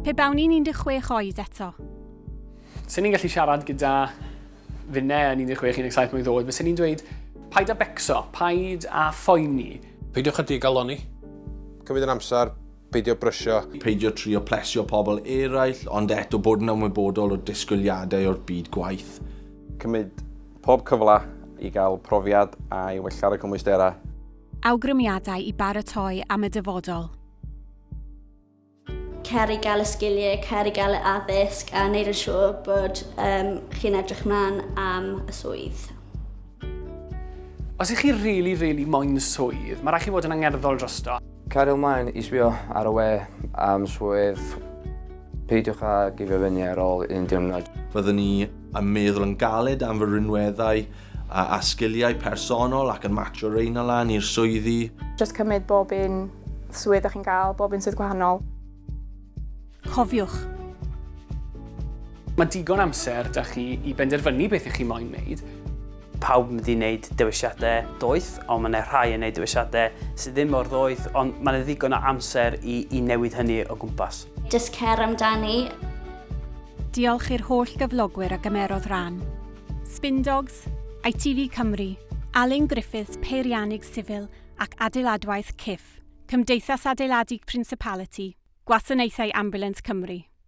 Pe bawn i'n 16 oed eto. Swn i'n gallu siarad gyda finne yn 16, 17 mlwydd oed, fyswn i'n dweud, paid a becso, paid a phoeni. Peidiwch â digalonni. Cymryd yn amser, peidio brysio. Peidio trio plesio pobl eraill, ond eto bod yn ymwybodol o'r disgwyliadau o'r byd gwaith. Cymryd pob cyfle i gael profiad a i wella ar y cymwysterau. Awgrymiadau i baratoi am y dyfodol. Cer i gael y sgiliau, cer i gael y addysg a wneud yn siŵr bod um, chi'n edrych mlaen am y swydd. Os ych chi really, really moyn swydd, mae rhaid chi fod yn angerddol drosto. Cario mlaen i sbio ar y we am swydd. Peidiwch a gifio fyny ar ôl un diwrnod. Fyddwn ni yn meddwl yn galed am fy rinweddau A a sgiliau personol ac yn matcho reina a lan i'r swyddi. Jyst cymryd bob un swydd da chi'n gael, bob un swydd gwahanol. Cofiwch! Mae digon amser da chi i benderfynu beth ych chi moyn wneud. Pawb yn mynd i wneud dewisiadau doeth, ond mae yna rhai yn wneud dewisiadau sydd ddim mor ddoeth, ond mae yna ddigon o amser i i newid hynny o gwmpas. Jyst cer amdani. Diolch i'r holl gyflogwyr a gymerodd ran. Spindogs, ITV Cymru, Alun Griffiths Peiriannydd Sifil ac Adeiladwaith, CIF, Cymdeithas Adeiladu Principality, Gwasanaethau Ambiwlans Cymru.